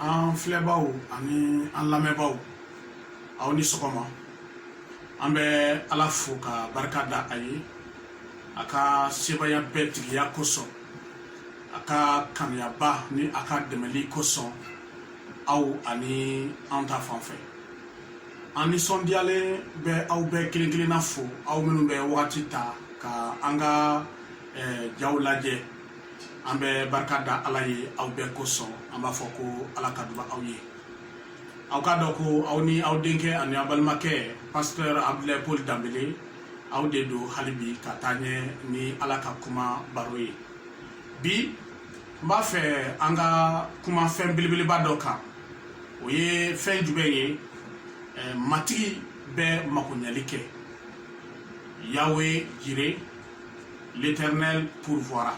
an filɛbagaw ani an lamɛnbagaw aw ni sɔgɔma an bɛ ala fo ka barika da a ye a ka sebaaya bɛɛ tigiya kosɔn a ka kanuyaba ni a ka dɛmɛli kosɔn aw ani an ta fan fɛ an nisɔndiyalen bɛ aw bɛɛ kelen kelenna fo aw minnu bɛ wagati ta ka an ka jaw lajɛ an bɛ barika da ala ye aw bɛɛ kosɔn an b'a fɔ ko ala ka duba aw ye aw k'a dɔn ko aw ni aw denkɛ ani aw balimakɛ pasteur abdulayi paul danbele aw de don hali bi ka taa ɲɛ ni ala ka kuma baro ye bi n b'a fɛ an ka kuma fɛn belebeleba dɔ kan o ye fɛn jumɛn ye matigi bɛ makoɲɛli kɛ yawe jire l'éternel pourvoira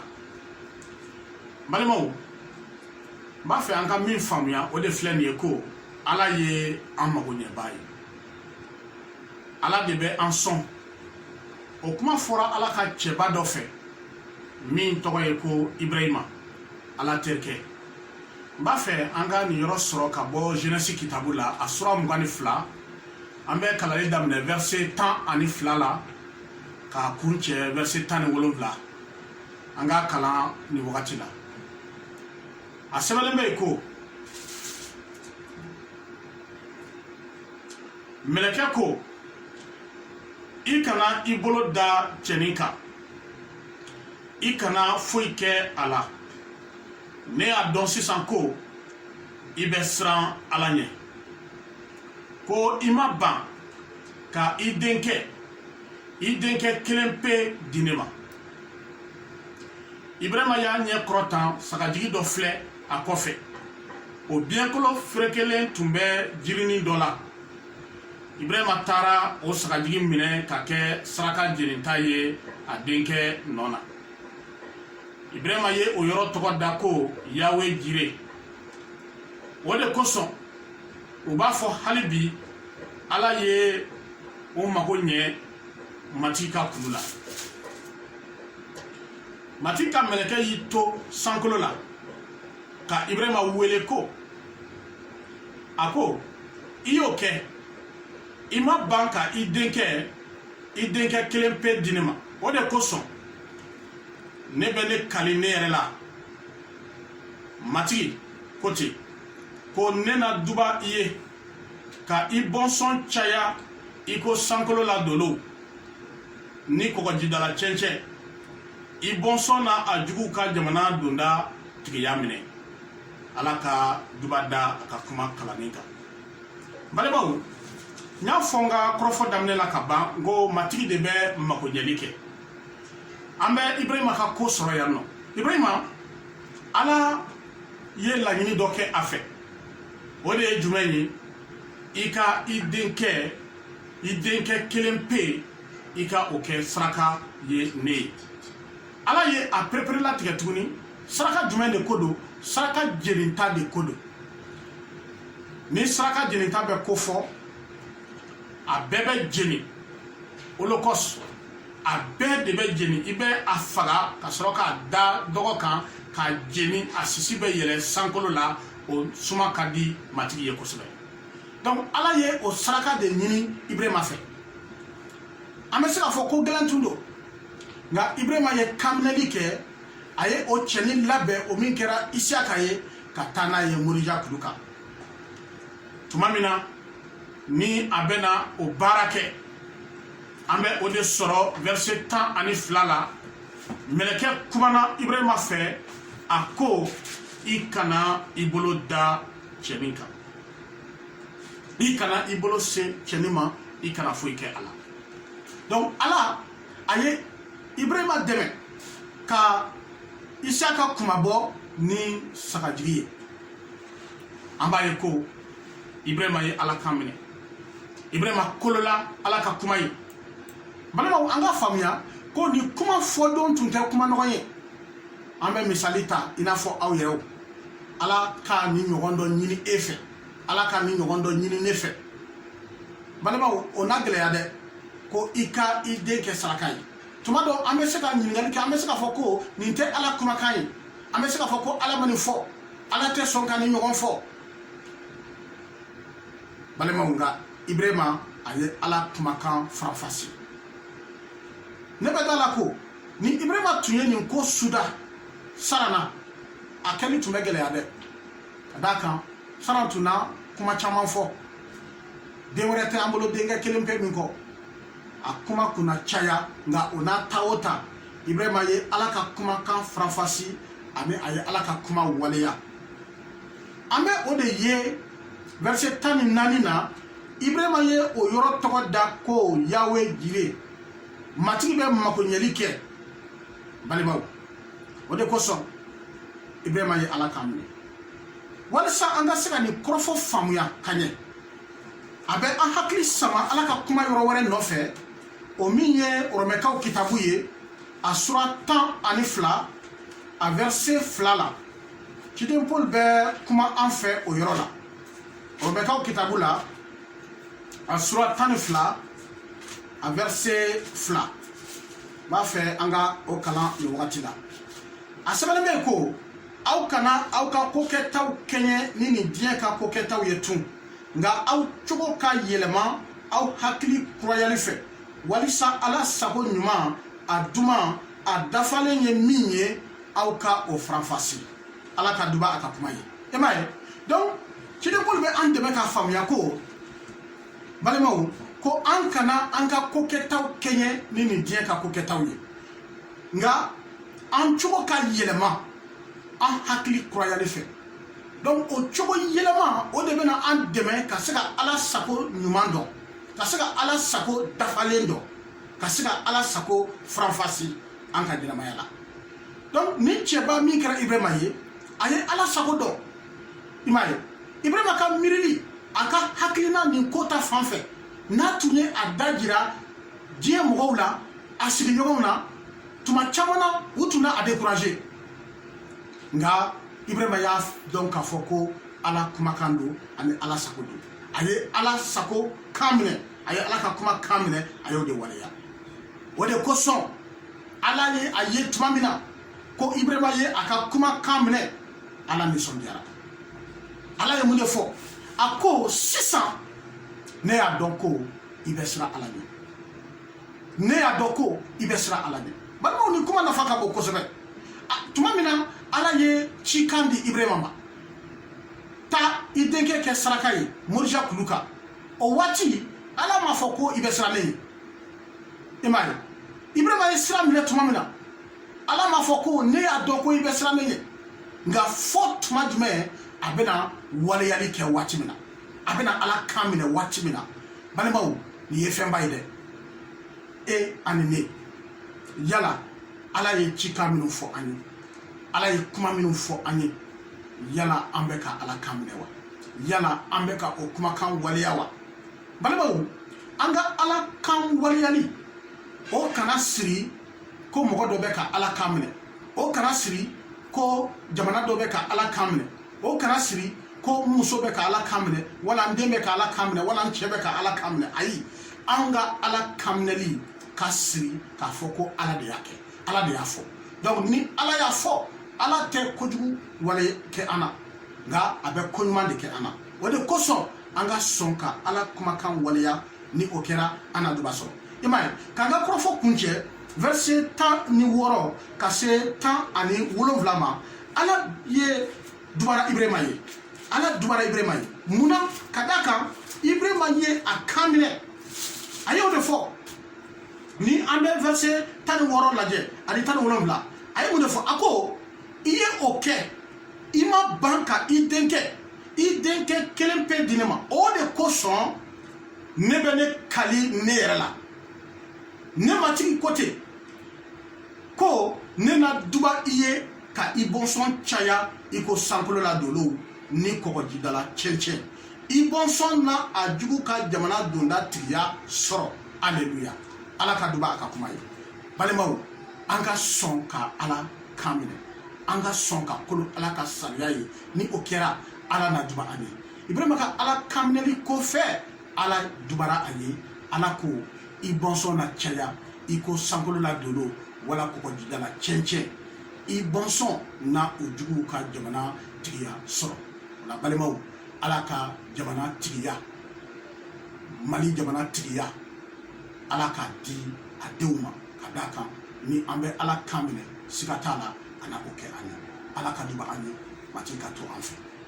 n balimaw n b'a fɛ an ka min faamuya o de filɛ nin ye ko ala ye an makoɲɛba ye ala de bɛ an sɔn o kuma fɔra ala ka cɛba dɔ fɛ min tɔgɔ ye ko ibrahima ala terikɛ n b'a fɛ an ka nin yɔrɔ sɔrɔ ka bɔ jɛnɛsi kitabu la a sura mugan ni fila an bɛ kalanli daminɛ verset tan ani fila la k'a kuncɛ verset tan ni wolonwula an k'a kalan nin wagati la a sɛbɛnlen bɛ yen ko mɛlɛkɛ ko i kana i bolo da cɛnin kan i kana foyi kɛ a la ne y'a dɔn sisan ko i bɛ siran ala ɲɛ ko i ma ban ka i denkɛ i denkɛ kelen pe di ne ma ibrahima y'a ɲɛ kɔrɔta sagajigi dɔ filɛ a kɔfɛ o biɲɛkolo ferekelen tun bɛ jirinin dɔ la ibrahima taara o sagajigi minɛ k'a kɛ saraka jeninta ye a denkɛ nɔ na ibrahima ye o yɔrɔ tɔgɔ da ko yawe jire o de kosɔn u b'a fɔ hali bi ala ye o mago ɲɛ matigi ka kulu la matigi ka mɛlɛkɛ y'i to sankolo la ka ibrahima wele ko a ko i y'o kɛ i ma ban ka i denkɛ i denkɛ kelen pe di ne ma o de kosɔn ne bɛ ne kali ne yɛrɛ la matigi ko ten ko ne na duba i ye ka i bɔnsɔn caya i ko sankolo la dolow ni kɔgɔjidala cɛncɛn i bɔnsɔn na a juguw ka jamana donda tigiya minɛ ala ka duba da a ka kuma kalanni kan balimaw n y'a fɔ n ka kɔrɔfɔ daminɛ la ka ban n ko matigi de bɛ makoɲɛli kɛ an bɛ ibrahima ka ko sɔrɔ yan nɔ ibrahima ala ye laɲini dɔ kɛ a fɛ o de ye jumɛn ye i ka i denkɛ i denkɛ kelen pe i ka o kɛ saraka ye ne ye ala ye a pereperelatigɛ tuguni saraka jumɛn de ko don saraka jeninta de ko don ni saraka jeninta bɛ ko fɔ a bɛɛ bɛ jeni holocauste a bɛɛ de bɛ jeni i bɛ a faga ka sɔrɔ k'a da dɔgɔ kan k'a jeni a sisi bɛ yɛlɛ sankolo la o suma ka di matigi ye kosɛbɛ donc ala ye o saraka de ɲini ibrahima fɛ an bɛ se k'a fɔ ko gɛlɛn tun don nka ibrahima ye kanminɛli kɛ a ye o cɛnin labɛn o min kɛra isiyaka ye ka taa n'a ye morija kulu kan tuma min na ni a bɛna o baara kɛ an bɛ o de sɔrɔ verset tan ani fila la mɛlɛkɛ kumana ibrahima fɛ a ko i kana i bolo da cɛnin kan i kana i bolo se cɛnin ma i kana foyi kɛ a la donc ala a ye ibrahima dɛmɛ ka isiyaka kunmabɔ ni sagajigi ye an b'a ye ko ibrahima ye ala kan minɛ ibrahima kolola ala ka kuma ye balimaw an ka faamuya ko nin kuma fɔdon tun tɛ kuma nɔgɔn ye an bɛ misali ta i n'a fɔ aw yɛrɛw ala ka nin ɲɔgɔn dɔ ɲini e fɛ ala ka nin ɲɔgɔn dɔ ɲini ne fɛ balimaw o na gɛlɛya dɛ ko i ka i den kɛ saraka ye tuma dɔ an bɛ se ka ɲininkali kɛ an bɛ se k'a fɔ ko nin tɛ ala kumakan ye an bɛ se k'a fɔ ko ala ma nin fɔ ala tɛ sɔn ka nin ɲɔgɔn fɔ balimaw nka ibrahima a ye ala kumakan faranfasi ne bɛ da la ko ni ibrahima tun ye nin ko suda sara na a kɛli tun bɛ gɛlɛya dɛ ka d'a kan sara tun na kuma caman fɔ den wɛrɛ tɛ an bolo denkɛ kelen pe nin kɔ a kuma tun na caya nka o n'a ta o ta ibrahima ye ala ka kumakan faranfasi ani a ye ala ka kuma waleya an bɛ o de ye verset tan ni naani na ibrahima ye o yɔrɔ tɔgɔ da ko yawe jire matigi bɛ makoɲɛli kɛ balimaw o de kosɔn ibrahima ye ala kan minɛ walisa an ka se ka nin kɔrɔfɔ faamuya ka ɲɛ a bɛ an hakili sama ala ka kuma yɔrɔ wɛrɛ nɔfɛ o min ye oromɛkaw kitabu ye a sura tan ani fila a vɛrse fila la ciden paul bɛ kuma an fɛ o yɔrɔ la oromɛkaw kitabu la a sura tan ni fila a vɛrse fila n b'a fɛ an ka o kalan nin wagati la a sɛbɛnnen bɛ yen ko aw kana aw ka kokɛtaw kɛɲɛ ni nin diɲɛ ka kokɛtaw ye tun nka aw cogo ka yɛlɛma aw hakili kurayali fɛ walisa ala sago ɲuman a duman a dafalen ye min ye aw ka o faranfasi ala ka duba a ka kuma ye i m'a ye donc ciden paul bɛ an dɛmɛ k'a faamuya ko balimaw ko an kana an ka kokɛtaw kɛɲɛ ni nin diɲɛ ka kokɛtaw ye nka an cogo ka yɛlɛma an hakili kurayali fɛ donc o cogo yɛlɛma o de bɛna an dɛmɛ ka se ka ala sago ɲuman dɔn ka se ka ala sago dafalen dɔn ka se ka ala sago faranfasi an ka ɲɛnamaya la donc nin cɛba min kɛra ibrahima ye a ye ala sago dɔn i m'a ye ibrahima ka miirili a ka hakilina nin ko ta fan fɛ n'a tun ye a dajira diɲɛ mɔgɔw la a sigiɲɔgɔnw na tuma caman na u tun na a découragé nka ibrahima y'a dɔn k'a fɔ ko ala kumakan don ani ala sago don a ye ala sago kan minɛ a ye ala ka kuma kan minɛ a y'o de waleya o de kosɔn ala ye a ye tuma min na ko ibrahima ye a ka kuma kan minɛ ala nisɔndiyara ala ye mun de fɔ a ko sisan ne y'a dɔn ko i bɛ siran ala ɲɛ ne y'a dɔn ko i bɛ siran ala ɲɛ balimaw nin kuma nafa ka bon kosɛbɛ tuma min na ala ye cikan di ibrahima ma taa i denkɛ kɛ saraka ye morija kulu kan o waati ala m'a fɔ ko i bɛ siran ne ɲɛ i m'a ye ibrahima ye sira minɛ tuma min na ala m'a fɔ ko ne y'a dɔn ko i bɛ siran ne ɲɛ nka fɔ tuma jumɛn a bɛna waleyali kɛ waati min na a bɛna ala kan minɛ waati min na balimaw nin ye fɛnba ye dɛ e ani ne yala ala ye cikan minnu fɔ an ye ala ye kuma minnu fɔ an ye yala an bɛ ka ala kan minɛ wa yala an bɛ ka o kumakan waleya wa balimaw an ka ala kan waleyali o kana siri ko mɔgɔ dɔ bɛ ka ala kan minɛ o kana siri ko jamana dɔ bɛ ka ala kan minɛ o kana siri ko n muso bɛ ka ala kan minɛ wala n den bɛ ka ala kan minɛ wala n cɛ bɛ ka ala kan minɛ ayi anw ka ala kan minɛli ka siri k'a fɔ ko ala de y'a kɛ ala de y'a fɔ donc ni ala y'a fɔ ala tɛ kojugu wale kɛ an na nka a bɛ ko ɲuman de kɛ an na o de kosɔn an ka sɔn ka ala kumakan waleya ni o kɛra an na duba sɔrɔ i m'a ye k'an ka kɔrɔfɔ kuncɛ verset tan ni wɔɔrɔ ka se tan ani wolonwula ma ala ye dubara ibrahima ye ala dubara ibrahima ye mun na ka d'a kan ibrahima ye a kan minɛ a y'o de fɔ ni an bɛ verset tan ni wɔɔrɔ lajɛ ani tan ni wolonwula a ye mun de fɔ a ko i ye o kɛ i ma ban ka i denkɛ i denkɛ kelen pe di ne ma o de kosɔn ne bɛ ne kali ne yɛrɛ la ne matigi ko ten ko ne na duba i ye ka i bɔnsɔn caya i ko sankolo la dolow ni kɔgɔjidala cɛncɛn i bɔnsɔn na a jugu ka jamana donda tigiya sɔrɔ aleluya ala ka duba a ka kuma ye balimaw an ka sɔn ka ala kan minɛ an ka sɔn ka kolo ala ka sariya ye ni o kɛra ala na duba an ye ibrahima ka ala kan minɛli kɔfɛ ala dubara a ye ala ko i bɔnsɔn na caya i ko sankolo la dolo wala kɔgɔjida la cɛncɛn i bɔnsɔn na u juguw ka jamana tigiya sɔrɔ o la balimaw ala ka jamana tigiya mali jamana tigiya ala k'a di a denw ma ka d'a kan ni an bɛ ala kan minɛ siga t'a la a na o kɛ an ye ala ka duba an ye matigi ka to an fɛ